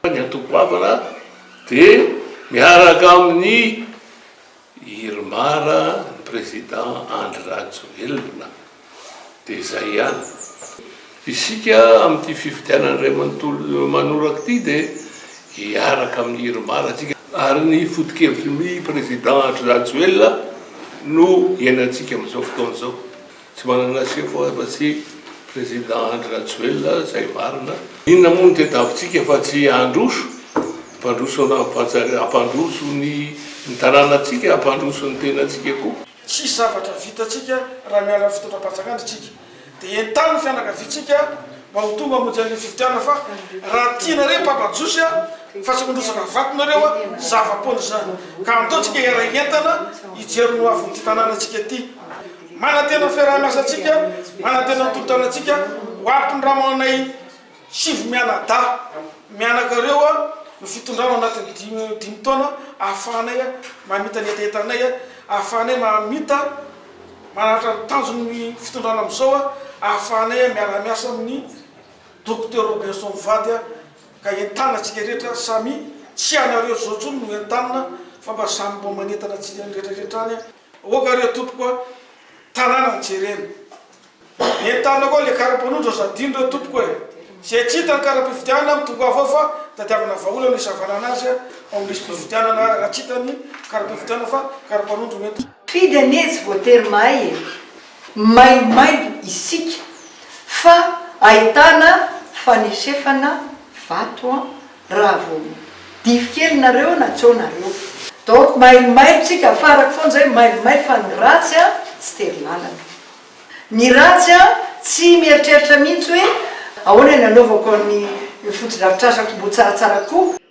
Ny anto-goavana dia miaraka amin'i Irmar, ny Président Andry Rajoelina. Dia izay ihany. Isika amin'ity fifidianana iray manontolo manoraka ity dia hiaraka amin'i Irmar tsika. Ary ny foto-kevitry ny Président Andry Rajoelina no iainantsika amin'izao fotoana izao. Tsy manana seho foana fa tsy Président Andry Rajoelina zay marina. Inona moa no tedavitsika fa tsy handroso, hampandroso an'Ambohidratrimo, hampandroso ny ny tanànantsika, hampandroso ny tenantsika koa. Tsisy zavatra vitantsika raha miala amin'ny fitondram-panjakana isika. Dia entano ny fianakaviantsika mba ho tonga hamonjy an'ilay fifidianana fa raha tianareo Papa Jiosy a, fa tsy mandrotsaka ny vatonareo a, zava-poana izany. Ka andao tsika hiara-hientana hijery ny hoavin'ity tanànantsika ity. Manantena ny fiaraha-miasantsika, manantena ny tolotanantsika ho ampy ny ramanay sivy mianadahy mianaka ireo ny fitondrana anatin'ny dimy dimy taona ahafahanay mamita ny hetahetanay, ahafahanay mamita manaritra ny tanjon'ny fitondrana amin'izao, ahafahanay miara-miasa amin'ny Docteur Robinson Mivady ka entana antsika rehetra samy tsy ianareo izao intsony no entanina fa mba samy mba manentana antsika rehetrarehetra any. Aoka re tompoko a! Tanàna jerena. Entanina koa le karapanondro aza adino re tompoko e! Zay tsy hita ny karapifidianana am tongava ao fa tadiavina vahaolana isavanana azy ao am lisipifidianana raha tsy hita ny karapifidianana fa karapanondro no entina. Mpifidy anie tsy voatery mahay e! Maimailo isika fa ahitana fanesefana vato an! raha vao dify kely nareo na co nareo donc mailomailo tsika afarako foana zay mailomailo fa ny ratsy a tsy tery lalana ny ratsy a tsy mieritreritra mihitsy hoe ahoana ny anaovako ny fotodrafitrasa komboha tsaratsara kokoa.